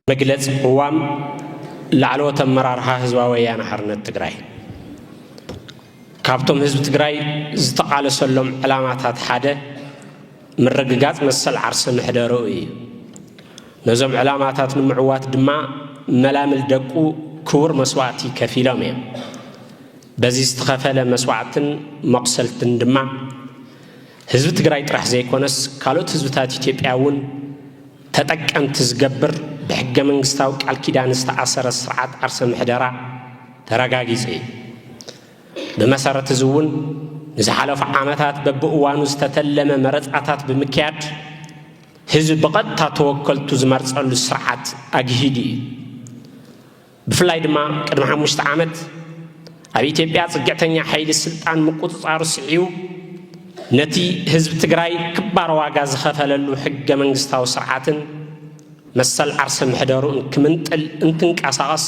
መግለፂ ቅዋም ላዕለዎት ኣመራርሓ ህዝባዊ ወያነ ሓርነት ትግራይ ካብቶም ህዝቢ ትግራይ ዝተቓለሰሎም ዕላማታት ሓደ ምርግጋፅ መሰል ዓርሰ ምሕደረኡ እዩ ነዞም ዕላማታት ንምዕዋት ድማ መላምል ደቁ ክቡር መስዋእቲ ከፊሎም እዮም በዚ ዝተኸፈለ መስዋዕትን መቑሰልትን ድማ ህዝቢ ትግራይ ጥራሕ ዘይኮነስ ካልኦት ህዝብታት ኢትዮጵያ እውን ተጠቀምቲ ዝገብር ብሕገ መንግስታዊ ቃል ኪዳን ዝተኣሰረ ስርዓት ዓርሰ ምሕደራ ተረጋጊፁ እዩ። ብመሰረት እዚ እውን ንዝሓለፉ ዓመታት በብእዋኑ ዝተተለመ መረፃታት ብምክያድ ህዝቢ ብቐጥታ ተወከልቱ ዝመርፀሉ ስርዓት ኣግሂዱ እዩ። ብፍላይ ድማ ቅድሚ ሓሙሽተ ዓመት ኣብ ኢትዮጵያ ፅግዕተኛ ሓይሊ ስልጣን ምቁፅፃሩ ስዒቡ ነቲ ህዝቢ ትግራይ ክባር ዋጋ ዝኸፈለሉ ሕገ መንግስታዊ ስርዓትን መሰል ዓርሰ ምሕደርኡን ክምንጥል እንትንቀሳቐስ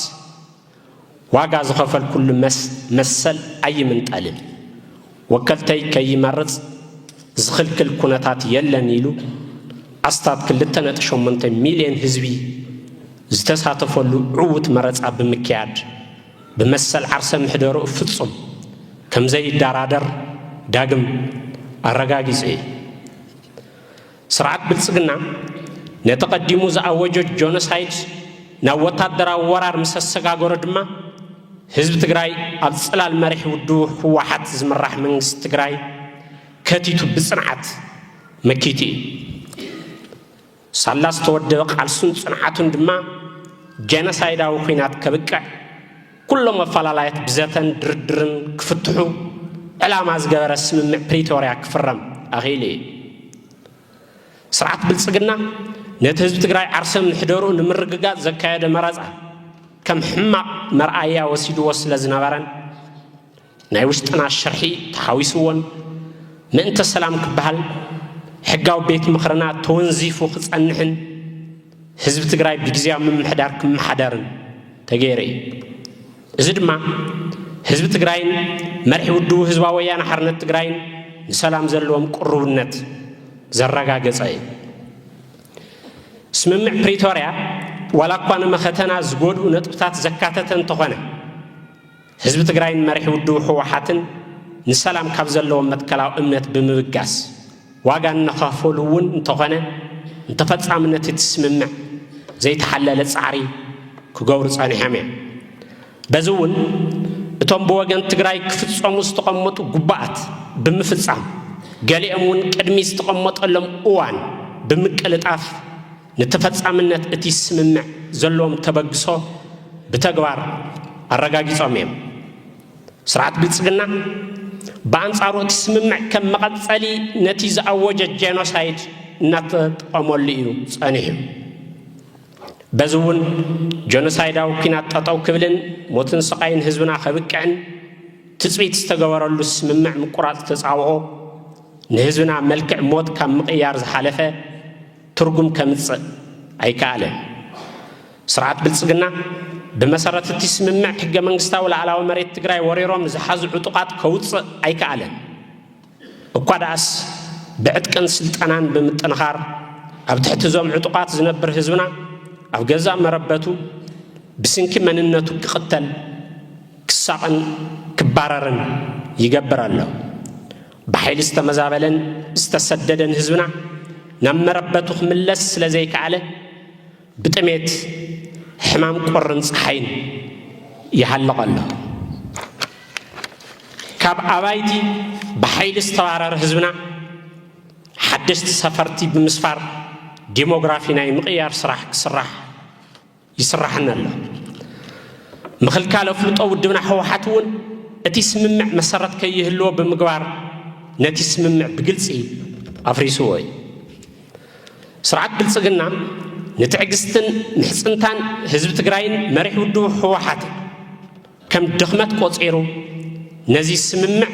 ዋጋ ዝኸፈልኩሉ መሰል ኣይምንጠልን ወከልተይ ከይመርጽ ዝኽልክል ኩነታት የለን ኢሉ ኣስታት ክልተ ነጥቢ ሸሞንተ ሚልዮን ህዝቢ ዝተሳተፈሉ ዕዉት መረጻ ብምክያድ ብመሰል ዓርሰ ምሕደርኡ ፍጹም ከምዘይደራደር ዳግም ኣረጋጊጹ እዩ። ስርዓት ብልጽግና ነቲ ቀዲሙ ዝኣወጆ ጆኖሳይድ ናብ ወታደራዊ ወራር ምስ ኣሰጋገሮ ድማ ህዝቢ ትግራይ ኣብ ጽላል መሪሕ ውድቡ ህወሓት ዝምራሕ መንግስቲ ትግራይ ከቲቱ ብጽንዓት መኪቱ እዩ። ሳላ ዝተወደበ ቃልሱን ጽንዓቱን ድማ ጀኖሳይዳዊ ኲናት ከብቅዕ ኩሎም ኣፈላላያት ብዘተን ድርድርን ክፍትሑ ዕላማ ዝገበረ ስምምዕ ፕሪቶርያ ክፍረም ኣኽኢሉ እዩ። ስርዓት ብልፅግና ነቲ ህዝቢ ትግራይ ዓርሰ ምሕደርኡ ንምርግጋፅ ዘካየደ መረፃ ከም ሕማቕ መርኣያ ወሲድዎ ስለዝነበረን ናይ ውሽጥና ሽርሒ ተሓዊስዎን ምእንተ ሰላም ክበሃል ሕጋዊ ቤት ምኽርና ተወንዚፉ ክጸንሕን ህዝቢ ትግራይ ብግዜያዊ ምምሕዳር ክመሓደርን ተገይሩ እዩ። እዚ ድማ ህዝቢ ትግራይን መርሒ ውድቡ ህዝባዊ ወያነ ሓርነት ትግራይን ንሰላም ዘለዎም ቅሩብነት ዘረጋገጸ እዩ። ስምምዕ ፕሪቶርያ ዋላ እኳ ንመኸተና ዝጎድኡ ነጥብታት ዘካተተ እንተኾነ ህዝቢ ትግራይን መሪሕ ውድቡ ህወሓትን ንሰላም ካብ ዘለዎም መትከላዊ እምነት ብምብጋስ ዋጋ እናኸፈሉ እውን እንተኾነ ንተፈፃምነት እቲ ስምምዕ ዘይተሓለለ ፃዕሪ ክገብሩ ፀኒሖም እዮም። በዚ እውን እቶም ብወገን ትግራይ ክፍፀሙ ዝተቐመጡ ጉባኣት ብምፍፃም ገሊኦም እውን ቅድሚ ዝተቐመጠሎም እዋን ብምቅልጣፍ ንተፈፃምነት እቲ ስምምዕ ዘለዎም ተበግሶ ብተግባር ኣረጋጊፆም እዮም። ስርዓት ብልፅግና ብኣንፃሩ እቲ ስምምዕ ከም መቐፀሊ ነቲ ዝኣወጀ ጄኖሳይድ እናተጠቐመሉ እዩ ፀኒሑ። በዚ እውን ጄኖሳይዳዊ ኩናት ጠጠው ክብልን ሞትን ስቓይን ህዝብና ከብቅዕን ትፅቢት ዝተገበረሉ ስምምዕ ምቁራፅ ተፃብኦ ንህዝብና መልክዕ ሞት ካብ ምቕያር ዝሓለፈ ትርጉም ከምጽእ ኣይከኣለን። ስርዓት ብልጽግና ብመሰረት እቲ ስምምዕ ሕገ መንግስታዊ ላዕላዊ መሬት ትግራይ ወሪሮም ንዝሓዙ ዕጡቓት ከውጽእ ኣይከኣለን። እኳ ደኣስ ብዕጥቅን ስልጠናን ብምጥንኻር ኣብ ትሕቲ እዞም ዕጡቓት ዝነብር ህዝብና ኣብ ገዛእ መረበቱ ብስንኪ መንነቱ ክቕተል፣ ክሳቕን ክባረርን ይገብር ኣሎ። ብሓይሊ ዝተመዛበለን ዝተሰደደን ህዝብና ናብ መረበቱ ክምለስ ስለ ዘይከኣለ ብጥሜት ሕማም ቁርን ፀሓይን ይሃልቕ ኣሎ። ካብ ኣባይቲ ብሓይሊ ዝተባረረ ህዝብና ሓደሽቲ ሰፈርቲ ብምስፋር ዲሞግራፊ ናይ ምቕያር ስራሕ ክስራሕ ይስራሕና ኣሎ። ምኽልካል ኣፍልጦ ውድብና ህወሓት እውን እቲ ስምምዕ መሰረት ከይህልዎ ብምግባር ነቲ ስምምዕ ብግልፂ ኣፍሪስዎ እዩ። ስርዓት ብልፅግና ንትዕግስትን ምሕፅንታን ህዝቢ ትግራይን መሪሕ ውድቡ ህወሓትን ከም ድኽመት ቆፂሩ ነዚ ስምምዕ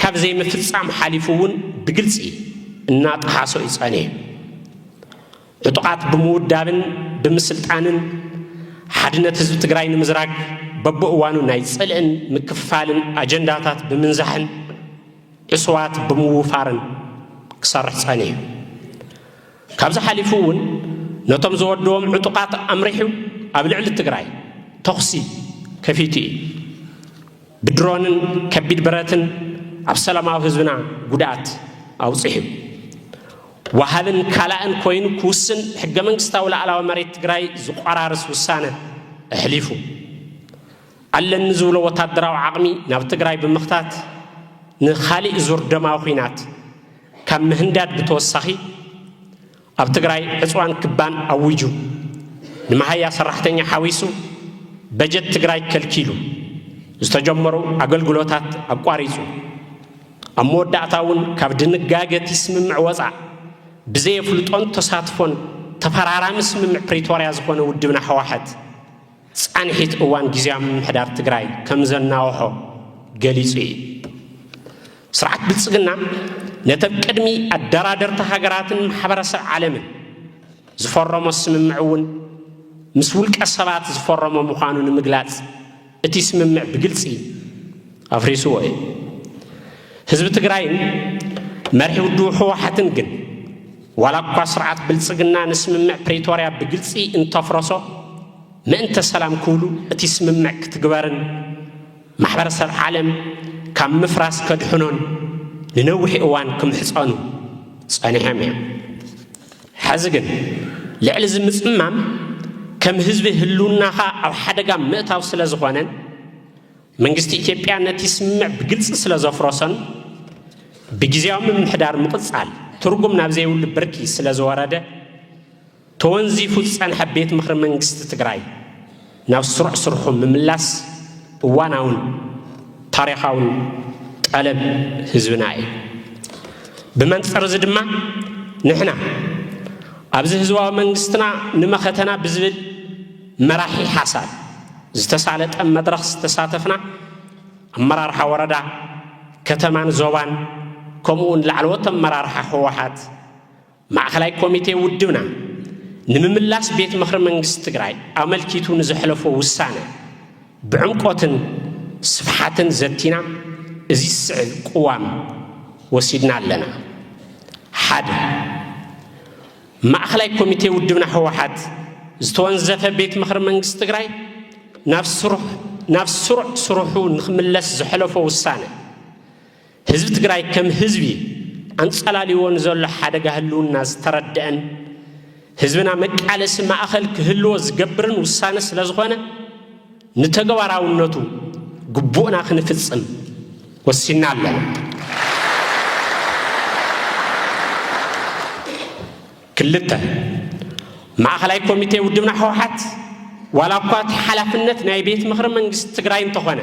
ካብ ዘይምፍፃም ሓሊፉ እውን ብግልፂ እናጠሓሶ እዩ ፀኒሑ። ዕጡቓት ብምውዳብን ብምስልጣንን ሓድነት ህዝቢ ትግራይ ንምዝራግ በብእዋኑ ናይ ጽልእን ምክፍፋልን ኣጀንዳታት ብምንዛሕን ዕሱባት ብምውፋርን ክሰርሕ ጸኒሑ ካብዚ ሓሊፉ እውን ነቶም ዝወደዎም ዕጡቓት ኣምሪሑ ኣብ ልዕሊ ትግራይ ተኹሲ ከፊቱ እዩ ብድሮንን ከቢድ ብረትን ኣብ ሰላማዊ ህዝብና ጉድኣት ኣውፂሑ ወሃብን ካላእን ኮይኑ ክውስን ሕገ መንግስታዊ ላዕላዊ መሬት ትግራይ ዝቆራርስ ውሳነ ኣሕሊፉ። ኣለኒ ዝብሎ ወታደራዊ ዓቕሚ ናብ ትግራይ ብምኽታት ንኻሊእ ዙር ደማዊ ኹናት ካብ ምህንዳድ ብተወሳኺ ኣብ ትግራይ ዕፅዋን ክባን ኣዊጁ ንመሃያ ሰራሕተኛ ሓዊሱ በጀት ትግራይ ከልኪሉ ዝተጀመሩ ኣገልግሎታት ኣቋሪፁ ኣብ መወዳእታ እውን ካብ ድንጋገ እቲ ስምምዕ ወፃእ ብዘየፍልጦን ተሳትፎን ተፈራራሚ ስምምዕ ፕሪቶርያ ዝኾነ ውድብና ህወሓት ፃንሒት እዋን ጊዜያዊ ምምሕዳር ትግራይ ከምዘናወሖ ገሊፁ እዩ። ስርዓት ብልፅግና ነተብ ቅድሚ ኣደራደርቲ ሃገራትን ማሕበረሰብ ዓለምን ዝፈረሞ ስምምዕ እውን ምስ ውልቀ ሰባት ዝፈረሞ ምዃኑ ንምግላፅ እቲ ስምምዕ ብግልፂ ኣፍሪስዎ እዩ። ህዝቢ ትግራይን መርሒ ውድቡ ህወሓትን ግን ዋላ እኳ ስርዓት ብልፅግና ንስምምዕ ፕሪቶርያ ብግልፂ እንተፍረሶ ምእንተ ሰላም ክብሉ እቲ ስምምዕ ክትግበርን ማሕበረሰብ ዓለም ካብ ምፍራስ ከድሕኖን ንነዊሕ እዋን ክምሕፀኑ ፀኒሖም እዮም። ሐዚ ግን ልዕሊ እዚ ምፅማም ከም ህዝቢ ህልውናኻ ኣብ ሓደጋ ምእታው ስለዝኾነን መንግስቲ ኢትዮጵያ ነቲ ስምምዕ ብግልፂ ስለዘፍረሶን ብግዝያዊ ምምሕዳር ምቕፃል ትርጉም ናብ ዘይብሉ ብርኪ ስለዝወረደ ተወንዚፉ ዝፀንሐ ቤት ምኽሪ መንግስቲ ትግራይ ናብ ስሩዕ ስርሑ ምምላስ እዋናውን ታሪኻውን ጠለብ ህዝብና እዩ። ብመንፅር እዚ ድማ ንሕና ኣብዚ ህዝባዊ መንግስትና ንመኸተና ብዝብል መራሒ ሓሳብ ዝተሳለጠ መድረኽ ዝተሳተፍና ኣመራርሓ ወረዳ፣ ከተማን ዞባን ከምኡ እውን ላዕለዎት ኣመራርሓ ህወሓት፣ ማእኸላይ ኮሚቴ ውድብና ንምምላስ ቤት ምኽሪ መንግስቲ ትግራይ ኣመልኪቱ ንዘሕለፎ ውሳነ ብዕምቆትን ስፍሓትን ዘቲና እዚ ዝስዕብ ቅዋም ወሲድና ኣለና። ሓደ ማእኸላይ ኮሚቴ ውድብና ህወሓት ዝተወንዘፈ ቤት ምኽሪ መንግስቲ ትግራይ ናብ ስሩዕ ስርሑ ንክምለስ ዘሕለፎ ውሳነ ህዝቢ ትግራይ ከም ህዝቢ ኣንፀላልይዎ ንዘሎ ሓደጋ ህልውና ዝተረደአን ህዝብና መቃለሲ ማእኸል ክህልዎ ዝገብርን ውሳነ ስለዝኾነ ንተግባራውነቱ ግቡእና ክንፍፅም ወሲና ኣለና። ክልተ ማእኸላይ ኮሚቴ ውድብና ህወሓት ዋላ እኳ እቲ ሓላፍነት ናይ ቤት ምኽሪ መንግስቲ ትግራይ እንተኾነ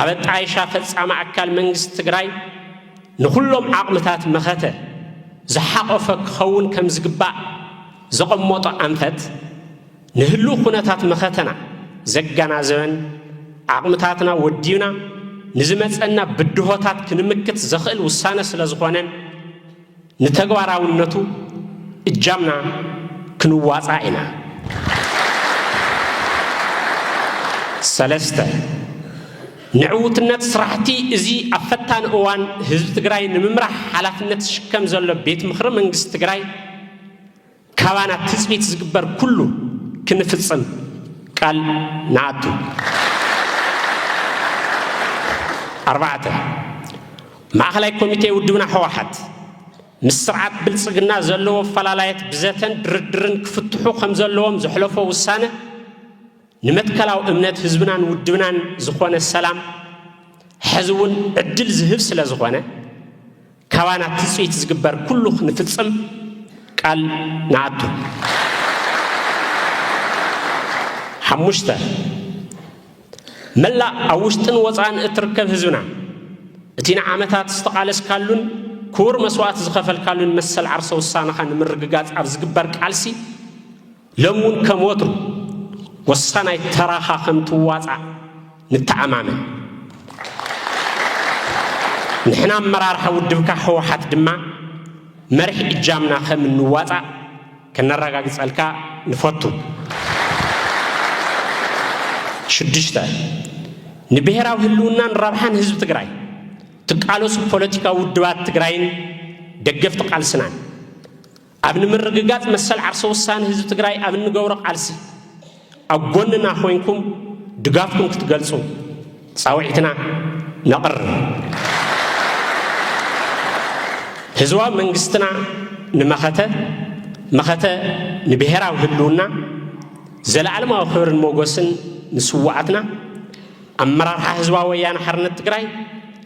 ኣብ ኣጣይሻ ፈጻሚ ኣካል መንግስቲ ትግራይ ንኹሎም ዓቕምታት መኸተ ዝሓቖፈ ክኸውን ከም ዝግባእ ዘቐመጦ ኣንፈት ንህልው ኩነታት መኸተና ዘገናዘበን ዓቕምታትና ወዲብና ንዝመፀና ብድሆታት ክንምክት ዘኽእል ውሳነ ስለዝኾነን ንተግባራውነቱ እጃምና ክንዋፃእ ኢና። ሰለስተ፣ ንዕውትነት ስራሕቲ እዚ ኣብ ፈታኒ እዋን ህዝቢ ትግራይ ንምምራሕ ሓላፍነት ዝሽከም ዘሎ ቤት ምኽሪ መንግስቲ ትግራይ፣ ካባና ትጽቢት ዝግበር ኩሉ ክንፍጽም ቃል ንኣቱ። ኣርባዕተ፣ ማእኸላይ ኮሚቴ ውድብና ህወሓት ምስ ስርዓት ብልፅግና ዘለዎ ኣፈላላየት ብዘተን ድርድርን ክፍትሑ ከምዘለዎም ዘሕለፎ ውሳነ፣ ንመትከላዊ እምነት ህዝብናን ውድብናን ዝኾነ ሰላም ሕዚ እውን ዕድል ዝህብ ስለ ዝኾነ ካባና ትፅቢት ዝግበር ኩሉ ክንፍፅም ቃል ንኣቱ። ሓሙሽተ መላእ ኣብ ውሽጥን ወፃእን እትርከብ ህዝብና እቲ ንዓመታት ዝተቓለስካሉን ክቡር መስዋእቲ ዝኸፈልካሉን መሰል ዓርሰ ውሳነኻ ንምርግጋፅ ኣብ ዝግበር ቃልሲ ሎሚ እውን ከም ወትሩ ወሳናይ ተራኻ ከም ትዋፃእ ንተኣማመን። ንሕና ኣመራርሓ ውድብካ ህወሓት ድማ መሪሕ እጃምና ከም እንዋፃእ ከነረጋግፀልካ ንፈቱ። ሽዱሽተ፣ ንብሄራዊ ህልውናን ረብሓን ህዝቢ ትግራይ ትቃለሱ ፖለቲካዊ ውድባት ትግራይን ደገፍቲ ቃልስናን ኣብ ንምርግጋፅ መሰል ዓርሰ ውሳነ ህዝቢ ትግራይ ኣብ እንገብሮ ቃልሲ ኣብ ጎንና ኮይንኩም ድጋፍኩም ክትገልፁ ፃውዒትና ነቕርብ። ህዝባዊ መንግስትና ንመኸተ መኸተ ንብሔራዊ ህልውና ዘለኣለማዊ ክብርን ሞገስን ንስዋኣትና ኣመራርሓ ህዝባዊ ወያነ ሓርነት ትግራይ